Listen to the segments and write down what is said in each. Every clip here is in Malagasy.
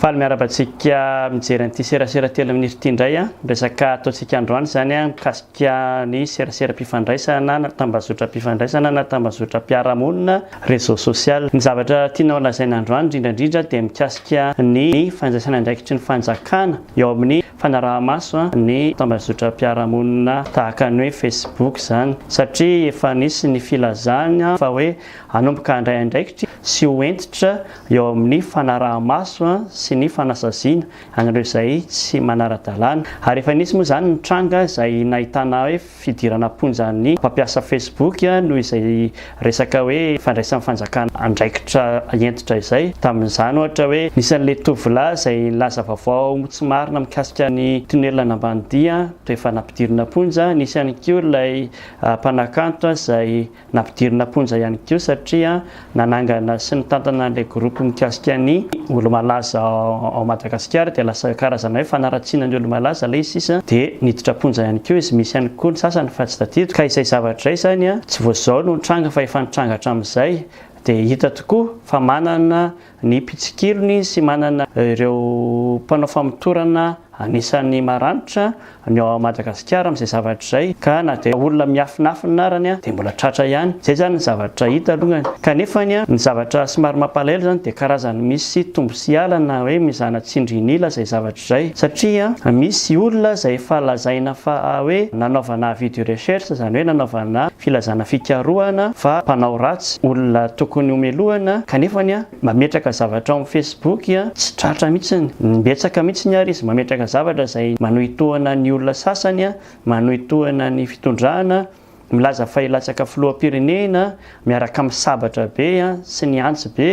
Faly miarahaba antsika mijery an'ity serasera telo minitra ity indray an. Resaka ataontsika androany izany an, mikasika ny seraseram-pifandraisana na tambazotram-pifandraisana na tambazotram-piarahamonina, réseau social. Ny zavatra tianao lazaina androany indrindra indrindra dia mikasika ny fandraisana andraikitry ny fanjakana eo amin'ny fanaraha-maso ny tambazotram-piarahamonina tahaka ny hoe Facebook izany satria efa nisy ny filazana fa hoe hanomboka handray andraikitra sy ho hentitra eo amin'ny fanaraha-maso sy ny fanasaziana an'ireo izay tsy manara-dalàna ary efa nisy moa izany ny tranga izay nahitana hoe fidirana am-ponja ny mpampiasa Facebook noho izay resaka hoe fandraisan'ny fanjakana andraikitra hentitra izay. Tamin'izany ohatra hoe nisy an'ilay tovolahy izay nilaza vaovao tsy marina mikasika ny tonelina Ambanidia dia efa nampidirina am-ponja, nisy ihany koa ilay mpanakanto izay Nampidirina am-ponja ihany koa satria nanangana sy nitantana an'ilay groupe mikasika ny olo-malaza ao Madagasikara dia lasa karazana hoe fanaratsiana ny olo-malaza ilay izy sisa dia niditra am-ponja ihany koa izy, misy ihany koa ny sasany fa tsy tadidiko ka izay zavatra izay izany tsy vao izao no nitranga fa efa nitranga hatramin'izay dia hita tokoa fa manana Ny mpitsikilony sy manana ireo mpanao famotorana anisan'ny maranitra ny ao Madagasikara amin'izay zavatra izay ka na dia olona miafinafina arany dia mbola tratra ihany. Izay izany ny zavatra hita alongany. Kanefa ny zavatra somary mampalahelo izany dia karazany misy tombo sy alana hoe mizana tsindrin'ila izay zavatra izay. Zay. Satria an, misy olona izay efa lazaina fa hoe nanaovana avis de recherche, izany hoe nanaovana filazana fikarohana fa mpanao ratsy, olona tokony homelohana, kanefany an, mametraka zavatra ao amin'ny Facebook an, tsy tratra mihitsiny. Betsaka mihitsiny ary izy mametraka zavatra izay manohitohana ny olona sasany an, manohitohana ny fitondrana, milaza fa hilatsaka filoham-pirenena miaraka amin'ny sabatra be sy ny antsy be,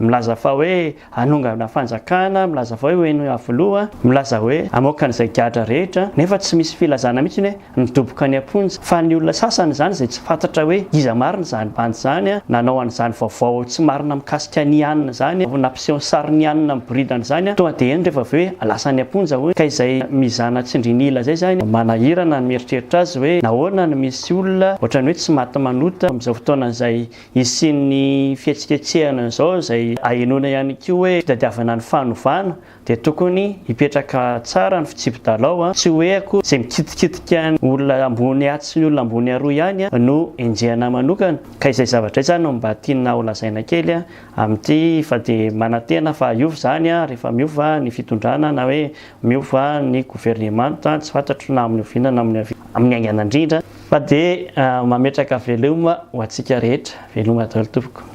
milaza fa hoe hanongana fanjakana, milaza fa hoe ho eny Iavoloha, milaza hoe hamoaka an'izay gadra rehetra, nefa tsy misy filazana mihitsy ny hoe midoboka any am-ponja, fa ny olona sasany izany izay tsy fantatra hoe iza marina izany bandy izany nanao an'izany vaovao tsy marina mikasika an'i Anna izany. Seho sarinianina miboridana izany tonga dia eny rehefa avy eo hoe lasa any am-ponja hono ka izay mizana tsindrin'ila izay izany manahirana ny mieritreritra azy hoe nahoana no misy olona ohatran'ny hoe tsy maty manota amin'izao fotoana izay hisian'ny fihetsiketsehana izao izay ahenoana ihany koa hoe fitadiavana ny fanovana dia tokony hipetraka tsara ny fitsipi-dalao an! tsy hoe akory izay mikitikitika ny olona ambony atsy ny olona ambony aroa ihany no enjehina manokana ka izay zavatra izay izany no mba tiana holazaina kely an! Amin'ity fa dia manantena fa hiova izany rehefa miova ny fitondrana na hoe miova ny governemanta, tsy fantatro na amin'ny oviana na amin'ny avia, amin'ny haingana indrindra fa dia mametraka veloma ho antsika rehetra, veloma daholo tompoko.